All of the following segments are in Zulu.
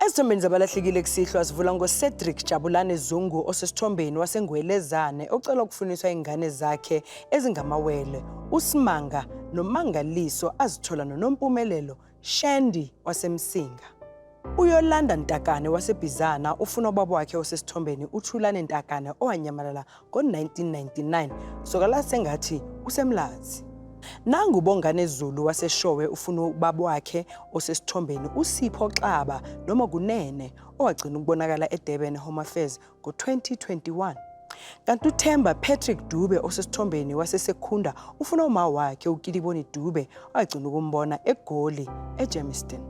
Ezithombeni zabalahlekile kusihlwa sivula ngoCedric Jabulane Zungu osesithombeni waseNgwelezane ocela ukufuniswa ingane zakhe ezingamawele uSimanga noMangaliso azithola noNompumelelo Shandy waseMsinga. UYolanda Ntakane waseBhizana ufuna ubaba wakhe osesithombeni uThulane Ntakane owanyamalala ngo-1999 soka la sengathi usemlazi. Nangu Bongane Zulu waseShowe ufuna ubaba wakhe osesithombeni uSipho Xaba noma Kunene owagcina ukubonakala eDurban Home Affairs ngo-2021. Kanti uThemba Patrick Dube osesithombeni waseSekhunda ufuna uma wakhe uKiliboni Dube agcina ukumbona eGoli eGermiston.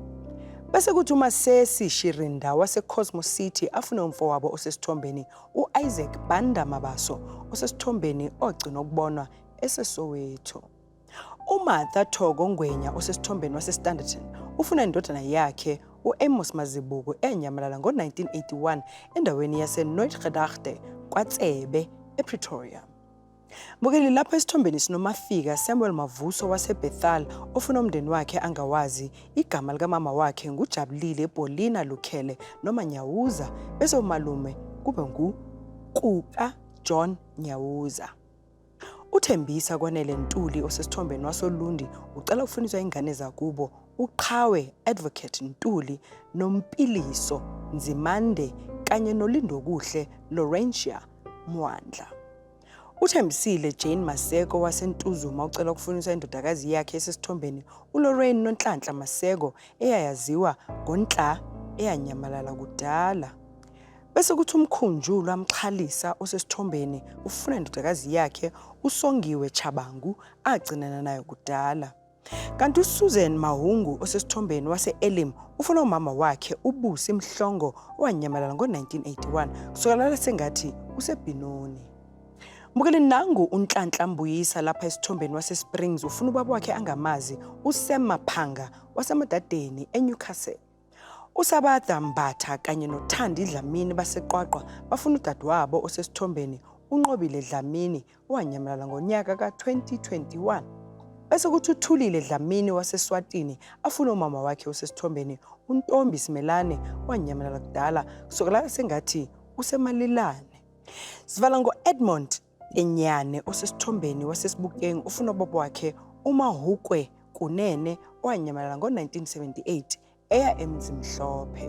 Bese kuthi uMasesi Shirinda waseCosmo City afune umfowabo osesithombeni u-Isaac Banda Mabaso osesithombeni ogcina ukubonwa eseSoweto. UMartha Thoko Ngwenya osesithombeni waseStanderton ufuna indodana yakhe u-Amos Mazibuko enyamalala ngo-1981 endaweni yase-Noitgedachte kwaTsebe ePretoria. Bukeli lapho esithombeni sinomafika Samuel Mavuso waseBethal ofuna umndeni wakhe angawazi igama likamama wakhe ngujabulile Paulina Lukhele noma Nyawuza bese umalume kube ngu Kuka John Nyawuza. UThembisa Kwanele Ntuli osesithombeni wasoLundi ucela ukufuniswa ingane zakubo uQhawe Advocate Ntuli noMpiliso Nzimande kanye noLindokuhle Laurentia Mwandla. Uthembisile Jane Maseko waseNtuzuma ucela ukufuniswa indodakazi yakhe esesithombeni uLorraine Nonhlanhla Maseko eyayaziwa ngoNhla eyanyamalala kudala. Bese kuthi uMkhunjulwa Mxhalisa osesithombeni ufuna indodakazi yakhe uSongiwe Chabangu agcinana nayo kudala. Kanti uSusan Mahungu osesithombeni wase-Elim ufuna umama wakhe uBusi Mhlongo owanyamalala ngo-1981 kusokalala sengathi usebhinoni. Mbukeli nangu uNhlanhla Mbuyisa lapha esithombeni waseSprings ufuna ubaba wakhe angamazi uSem Maphanga waseMadadeni eNewcastle. USabatha Mbatha kanye noThandi Dlamini baseQwaqwa bafuna udadewabo osesithombeni uNqobile Dlamini owanyamalala ngonyaka ka-2021. Bese kuthi uThulile Dlamini waseSwatini afuna umama wakhe osesithombeni uNtombi Simelane owanyamalala kudala kusukela sengathi usemalilane. Sivala ngo-Edmond Inyane osesithombeni waseSibukeng ufuna ubaba wakhe uMahukwe Kunene owanyamalala ngo-1978 eya eMzimhlophe.